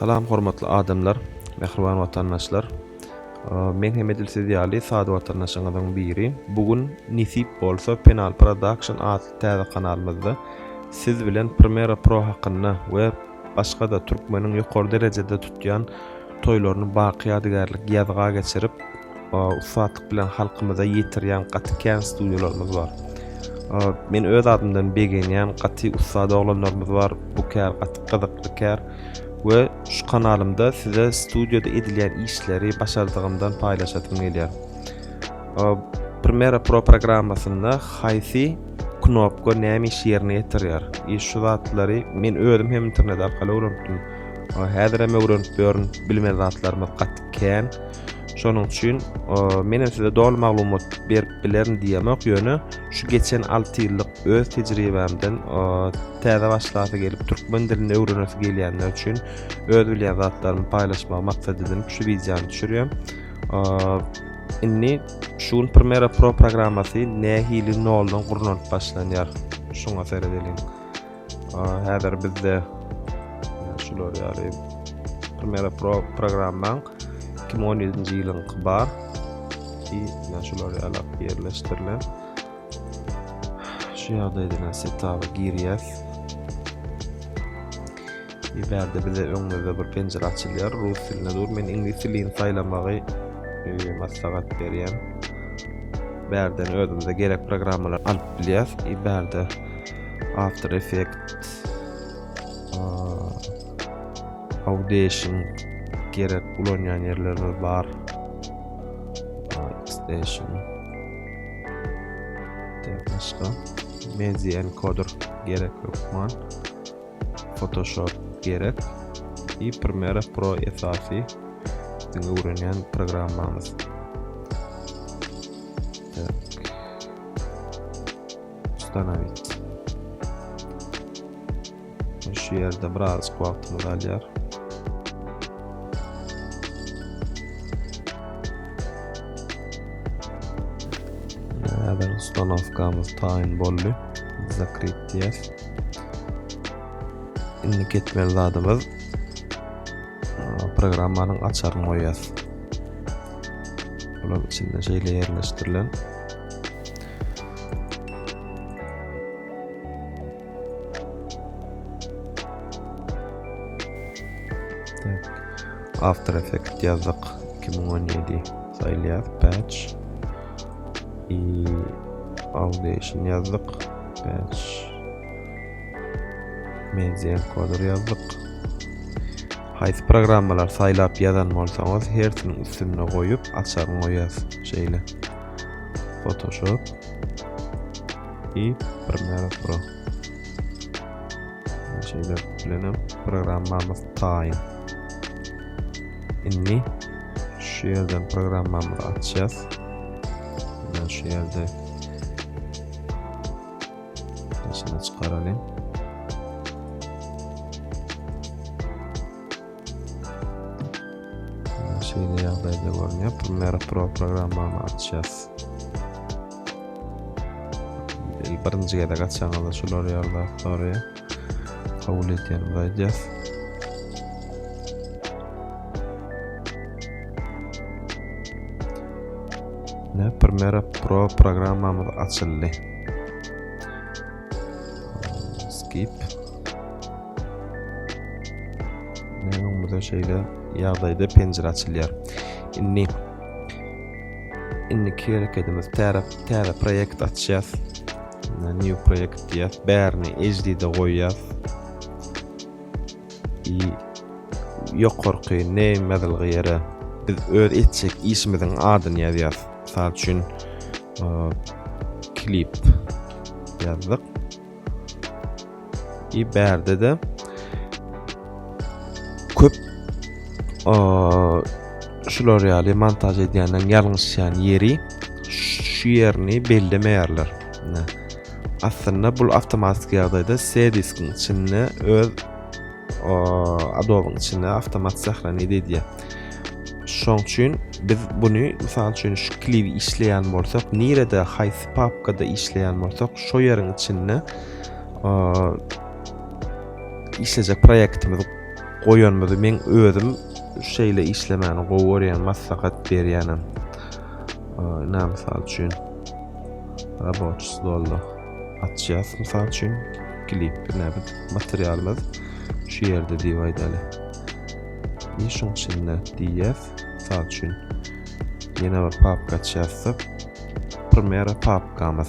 Salam hormatly adamlar, mähriban watandaşlar! Men hem edil siz ýaly sada watandaşyňyzyň biri. Bu gün nesip bolsa Penal Production atly täze kanalymyzda siz bilen Primera Pro hakynda we başga-da türkmeniň ýokary derejede tutýan toýlaryny baky ýadygärlik ýazga geçirip, ussatlyk bilen halkymyza ýetirýän gaty kän studýalarymyz bar. Men öz adymdan begenýän gaty ussat oglanlarymyz bar. Bu kär gaty gyzykly kär we şu kanalymda size studýada edilýän işleri başardygymdan paýlaşasym gelýär. Premiere Pro programmasynda haýsy knopka näme işi ýerine ýetirýär? E şu zatlary men özüm hem internet arkaly öwrenipdim. Häzirem öwrenip ýörün, bilmeýän zatlarymyz gaty kän. Şonuň üçin men hem size doly maglumat berip bilerin diýemok, ýöne şu geçen 6 ýyllyk öz tejribämden täze başlasy gelip türkmen dilini öwrenesi gelýänler üçin öz bilýän zatlarymy paýlaşmagy maksat edinip şu wideony düşürýän. Indi şu gün Premiere Pro programmasy nähili noldan gurnalyp başlanýar? Şuňa seredeliň. Häzir bizde şular ýaly Premiere Pro programmaň 2017-nji ýylyňky bar. Ki, men şular ýaly ýerleşdirilen. Şu ýagdaýda setaba girýäs. Eý bärde bize öňümizde bir penjire açylýar rus dilinde dur men iňlis dilini saýlamagy maslahat berýän bärden özümize gerek programmalar alyp bilýäs eý bärde after effect audition gerek ulanýan ýerlerimiz bar station başga mezi encoder gerek hökman Photoshop gerek i Premiere Pro esasy biziň öwrenýän programmamyz. Ustanovit. Şu ýerde biraz wagtymyz alýar. Häzir ustanowkamyz taýyn boldy. Zakryt diýýär. Indi ketmeli zadymyz programmanyň açaryny goýýas. Olar içinde şeýle ýerleşdirilen. After Effects ýazdyk 2017 saýlaýas patch i Audition ýazdyk patch Media encoder ýazdyk. Haýsy programmalar saýlap ýazan bolsaňyz, hersiniň üstünde goýup, açaryň goýas. Şeýle. Photoshop i Premiere Pro. Şeýle bilen hem programmamyz taýyn. Indi şu ýerden programmamyzy açýas. Şu ýerde Daşyna çykaralyň. Şeýle ýagdaýda görünýär. Premiere Pro programmany açýas. Birinji gezek açýaňyzda şular ýaly zatlar kabul etýän gaýdýas. Ne Premiere Pro programmamyz açyldy. Skip. Ne öňümizde şeýle ýagdaýda penjire açylýar. Indi indiki hereketimiz täze täze proýekt açýas. New project diýýäs. Bärini HD-de goýýas. I ýokarky name ýazylgy ýere biz öz etjek işimiziň adyny ýazýas. Mysal üçin klip ýazdyk. Ki bärde de köp şular ýaly montaj edýänden ýalňyşýan ýeri şu ýerini bellemeýärler. Aslynda bu awtomatik ýagdaýda C diskiň içinde öz Adobe-iň içinde awtomat sahrany edýär. Şoň üçin biz buny mysal üçin şu kliwi işleýän bolsak, nirede haýsy papkada işleýän bolsak, şo ýeriň içinde işlejek proýektimizi goýanymyzy men özüm şeýle işlemäni gowy görýän maslahat berýänem. Näme mysal üçin reboç stolda açýas mysal üçin klip näme materialymyz şu ýerde diýip aýdaly. Işin içinde diýýäs mysal üçin ýene bir papka açýasda Premiere papkamyz.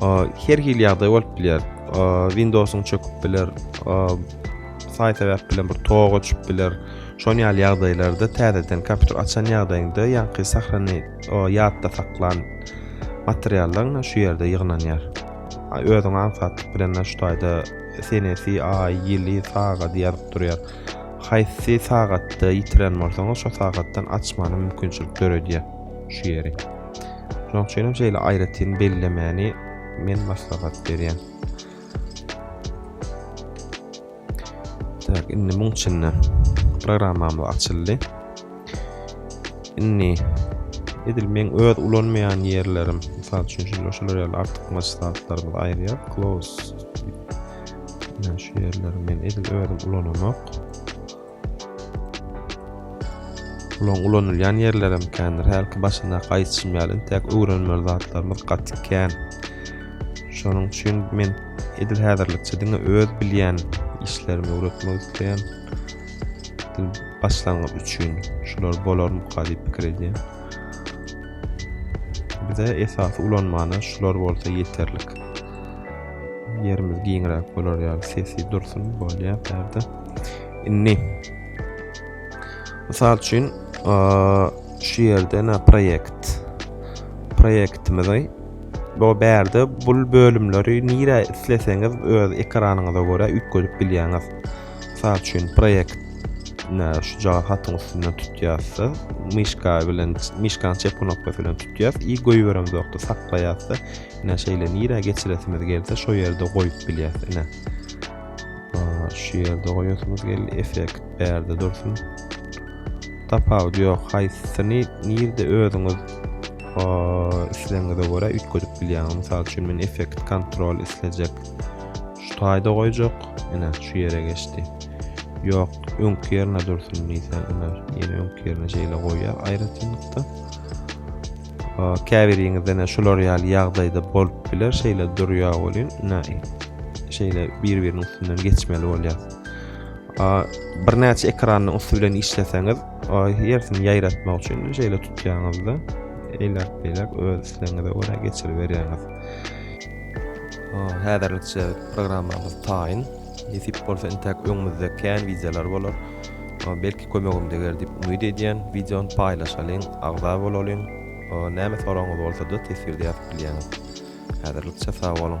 Her hili ýagdaý bolup biler. Windows-yň çöküp biler. Saý sebäp bilen bir tok öçüp biler. Şonuň ýaly ýagdaýlarda täzeden kompýuter açan ýagdaýyňda ýaňky sahrany ýatda saklan materiallaryň şu ýerde ýygnanýar. Özüň aňsatlyk bilen şu taýda senesi, aý, ýyly, sagaty ýazyp durýar. Haýsy sagatda ýitiren bolsaňyz, şo sagatdan açmana mümkinçilik döredýär şu ýeri. Şonuň üçin hem şeýle aýratyn bellemäni men maslahat berýän. Tak, indi muň içinde programmamyz açyldy. Indi edil men öz ulanmaýan ýerlerim, mysal üçin şular şular ýaly artykmaç zatlarymyzy aýyrýar. Close. Şu ýerleri men edil özüm ulanamok. Olaň ulanylýan ýerlerem kändir. Hälki başyndaky aýtşym ýaly, intäk öwrenmeli zatlarymyz gaty kän. Şonuň üçin men edil häzirlikçe diňe öz bilýän işlerimi öwretmek isleýän. Dil başlangyç üçin şular bolarmyka diýip pikir edýän. Bize esasy ulanmana şular bolsa ýeterlik. Ýerimiz giňräk bolar ýaly sesi dursun bolýar bärde. Indi Mysal üçin, şu ýerde na proýekt. Proýektimizi bu bärde bu bölümleri nirä isleseňiz öz ekranyňyza görä üýtgedip bilýäňiz. Mysal üçin, proýekt na şu jaga hatyň üstünden tutýarsa, myşka bilen myşkanyň çep knopkasy bilen tutýar i goýberemiz wagty saklaýarsa, ine şeýle nirä geçiresimiz gelse, şo ýerde goýup bilýär. Ine. Şu ýerde goýasymyz geldi. Effekt bärde dursun. Tapawut ýok. Haýsyny nirde özüňiz isleňize görä üýtgedip bilýäňiz. Mysal üçin men effekt kontrol islejek. Şu taýda goýjak. Ine şu ýere geçdi. Ýok, öňki ýerine dursun diýse, ine ýene öňki ýerine şeýle goýýar aýratynlykda. Käbiriňizde-ne şular ýaly ýagdaýda bolup biler, şeýle durýar welin, ine, şeýle bir-biriniň üstünden geçmeli bolýar. Birnäçe ekranyň üsti bilen işleseňiz, hersini ýaýratmak üçin şeýle tutýaňyzda, eýläk-beýläk öz islegiňize görä geçiriberýäňiz. Häzirlikçe programmamyz taýyn. Nesip bolsa intäk öňümizde kän wideolar bolar. Belki kömegim deger diýip umyt edýän. Wideony paýlaşalyň, agza bolalyň. Näme soragyňyz bolsada teswirde ýazyp bilýäňiz. Häzirlikçe sag boluň.